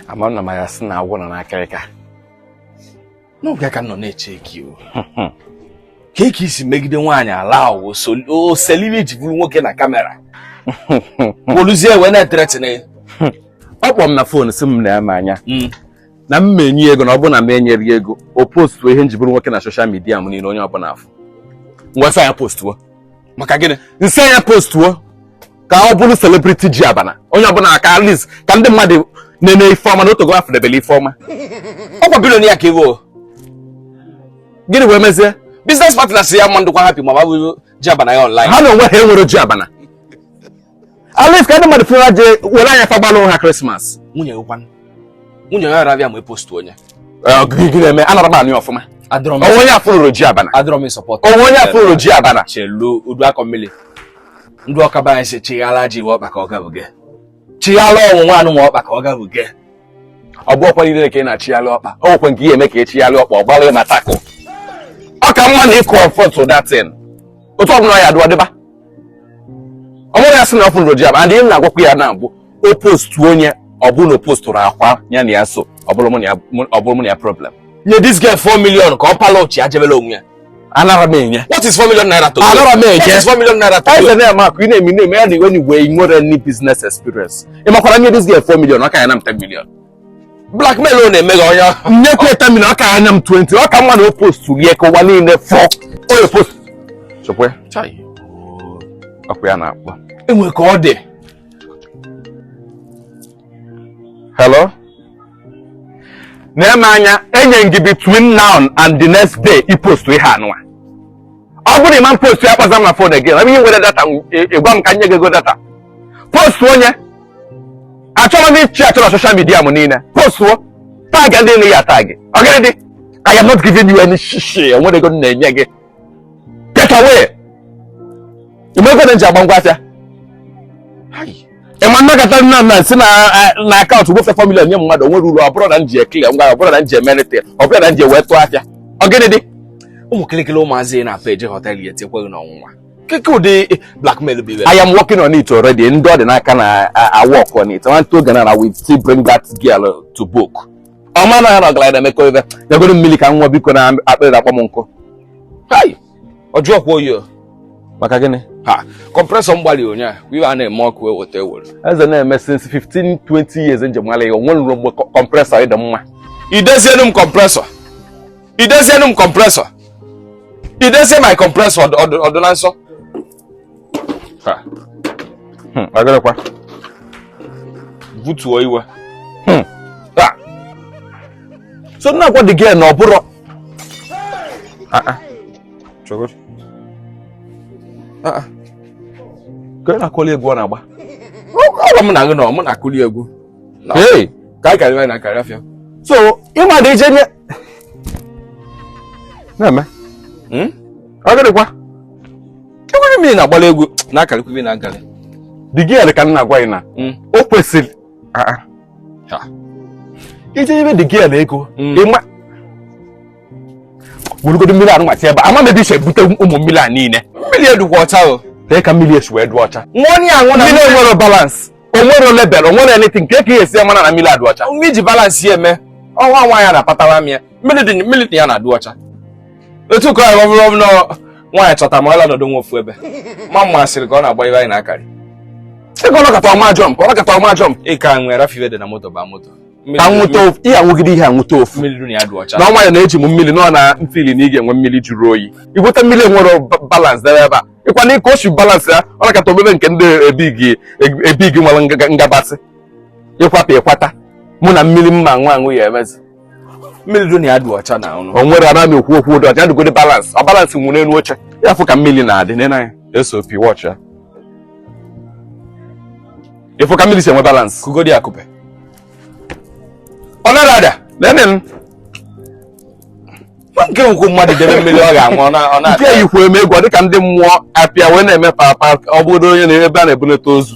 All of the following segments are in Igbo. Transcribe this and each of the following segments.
ama na ma ya sị na agwọ nọ n'akịrịka n'oge ka nọ na-eche gị o ka eke isi megide nwaanyị ala awụ o sere ihe m ji bụrụ nwoke na kamera poluzie wee na-ethreaten ọ kpọrọ m na fon si m na-eme anya hmm. na m ma enye ego na ọ bụrụ na m enyerọ ya ego o postuo ihe m ji bụrụ nwoke na soshal midia m niile onye ọbụla afụ ngwa sị ya postuo maka gịnị m sị ya postuo ka ọ bụrụ celebrity ji abana onye ọbụla ka at least ka ndị mmadụ nene ife ọma na o tego afụdebele ife ọma ọkwa billionaire ka ị wụ gịnị wee mezie biznes partners ya ma adịkwa hapi ma ọ bụ ji abana ya online ha na onwe ha enwere ji abana at least ka ndị mmadụ fụ ya je were anya fa gbalụ ha krismas nwunye gị kwanụ nwunye ya arabịa ma epostu nụ ya gị na-eme anara m anụ ọfụma o nwe onye afụrọ ji abana o nwe onye afụrọ ji abana chelu udu akọ mmiri ndị ọka be anyị sị chighala ji iwe ọkpa ka ọ gabiga chighala ọnwụnwa anụ nwa ọkpa ka ọ gabiga ọ bụ ọkwa niile ka ị na-achighalị ọkpa o nwekwa nke ị je eme ka ị chighalị ọkpa ọ gbalị ma tackle ọ ka mma na ị confrontụ that thing otu ọ bụla ya dị ọ dịba ọ bụrụ ya sị na ọ fụrụ ji and ihe na-agwakwa ya na mbụ o postu nụ ya ọ bụrụ na o postụrọkwa ya na ya so ọ bụrụ mụ na ya problem nye this girl 4 million ka ọ pala ụchụ ya jebelu onwe ya anara m enye what is 4 million naira to you anara m enye what is 4 million naira to you eze na ma akụ na-eme na-eme ya na iwe na iwe nwere any business experience ị makwara nye this girl 4 million ọ ka ya-ana m 10 million blackmail ọ na-eme gị onye nyekwa 10 million ọ ka ya-ana m 20 ọ ka mma na o post ya ka ụwa niile fụ ọ ya-epost chekwa ọkwa ya na-akpọ enwe ka ọ dị hello na-eme anya enye gị between now and the next day ị post ihe anụwa ọ bụrụ na ị ma postu ya akpọzina m na fon again ebe ị nwerọ data ị gwa m ka m nye gị ego data postu nụ ya achọrọ m ichi achọrọ soshal midia m niile postuo tag ndị ị ya-atag ọ gịnị dị I am not giving you any shishi o nwerọ ego m na-enye gị get away ime ego na m ji agba ngwa afịa ị ma na m akata na m si na akaụntụ gbafee 4 million nye mmadụ o nwerọ uru ọ bụrọ na m ji eclear ngwa ọ bụrọ na m ji emerịta ọ bụrọ na m ji wee tụọ afịa ọ gịnị dị ụmụ kịlịkịlị ụmụazị na-apụ eje họtelụ ya etekweghị n'ọnwụnwa kee ụdị blackmail bụ I am working on it already ndị ọ dị n'aka na-awork on it nwantịntị oge na I will still bring that girl to book ọ ma na ya na ọgaranya na-emekọ ibe nyegodu m mmiri ka m ṅụa biko na akpịrị akpọọ m nkụ ọ jụkwa oyi maka gịnị ha kọmpresọ m gbalị ụnyaahụ ihe a na-eme ọkụ e weta e were eze na-eme since 15 20 years m ji mara ya o nwenụrụ mgbe kọmpresọ ji dị mma idezienu m kọmpresọ idezienu m kọmpresọ idezie my kọmpresọ ọ dị na nsọ Hmm, agarakwa butuo iwe hmm. so na-agwa the girl na ọ bụrọ ah, ah. ah, ka ị na-akụli egwu ọ na-agba ọgwa m na gị nọ mụ na-akụli egwu ka anyị karịrị anyị na karị afịa so ịma dị ije nye na-eme hmm? agịrịkwa enwere mmiri na-agbara egwu na akarịkwa ibe na agarị the girl ka m na-agwa gị na hmm. o kwesịrị ah, ah. ije ibe the girl ego hmm. ịma wụrụgodu mmiri anụ nwachi ebe ama mebi ise bute ụmụ mmiri a niile mmiri adịkwa ọcha o lee ka mmiri esi wee dụ ọcha mmiri nwere balance onwere level onwere anything nke ka ihe esi mara na mmiri adụ ọcha ume iji balance ya eme ọnwa nwa ya na-apatara m ya mmiri dị ya na-adị ọcha otu ka ọ bụrụ ọbụla nwaanyị chọta ma ọla nọdụ nwa ofu ebe ma mma sịrị ka ọ na-agba ibe anyị na-akarị ịka ọ nọkata ọ ma jump ọ nọkata ọ ma jump ịka nwere rafiwe dị na moto ba moto ihe anwụgide ihe anwụta ofu na ọnwa ya na-eji m mmiri nọ na mfili na ị ga-enwe mmiri jụrụ oyi iweta mmiri nwere balance debe ebe a ịkwa na ịka o si balance ya ọ nọkata o mebe nke ndị ebi gị nwere ngabasị ịkwapụ ịkwata mụ na mmiri mma nwa aṅụ ya emezi mmiri dị na ya dị ọcha na ọnụ o nwere ana m ekwu okwu dị ọcha dịgodi balance ọ balance nwụ n'elu oche ya fụ ka mmiri na-adị n'enu ya sop watch ya ịfụ ka mmiri si enwe balance kugodi akụpe ọ nara ada lene m nke nkwu mmadụ debe mmiri ọ ga-anwụ ọ na- ọ na- nke yikwa eme egwu ọ dịka ndị mmụọ apịa wee na-eme papa ọ bụrụ onye na ebe a na-ebunata ozu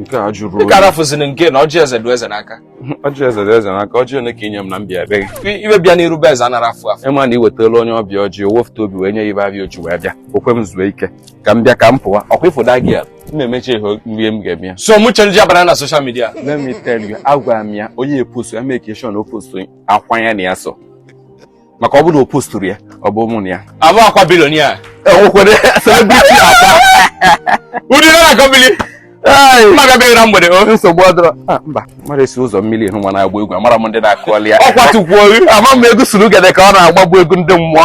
nke a jụrụ oyi. Ị gara fụziri nke na ọjị eze dị eze n'aka. Ọjị eze dị eze n'aka, ọjị ole ka inye m na mbịa ebe gị. Iwe bịa n'iru be eze anara afụ afụ. Ịma na ị wetara onye ọbịa ọjị, o wefụta obi wee nye ya ibe abịa o ji wee bịa. Okwe m zuo ike. Ka m bịa ka m pụwa. Ọkwa ịfụda gị ya. M na-emecha ihe mgbe m ga-eme ya. So mụ change abara na social media. Let me tell you, agwara m ya onye epostu ya make sure na o postu akwanya na ya so. maka ọ bụrụ na o posturu ya ọ bụ mụ na ya abụkwa billionaire enwekwere celebrity akwa ụdị na akọ bili mmadụ bịara na mgbede o nsogbu adịrọ Ah, mba mmadụ esi ụzọ mmiri hụ nwa na-agba egwu amarọ ndị na-akụli ya ọkwa tukwuo gị ama m egwu surugede ka ọ na-agba bụ egwu ndị mmụọ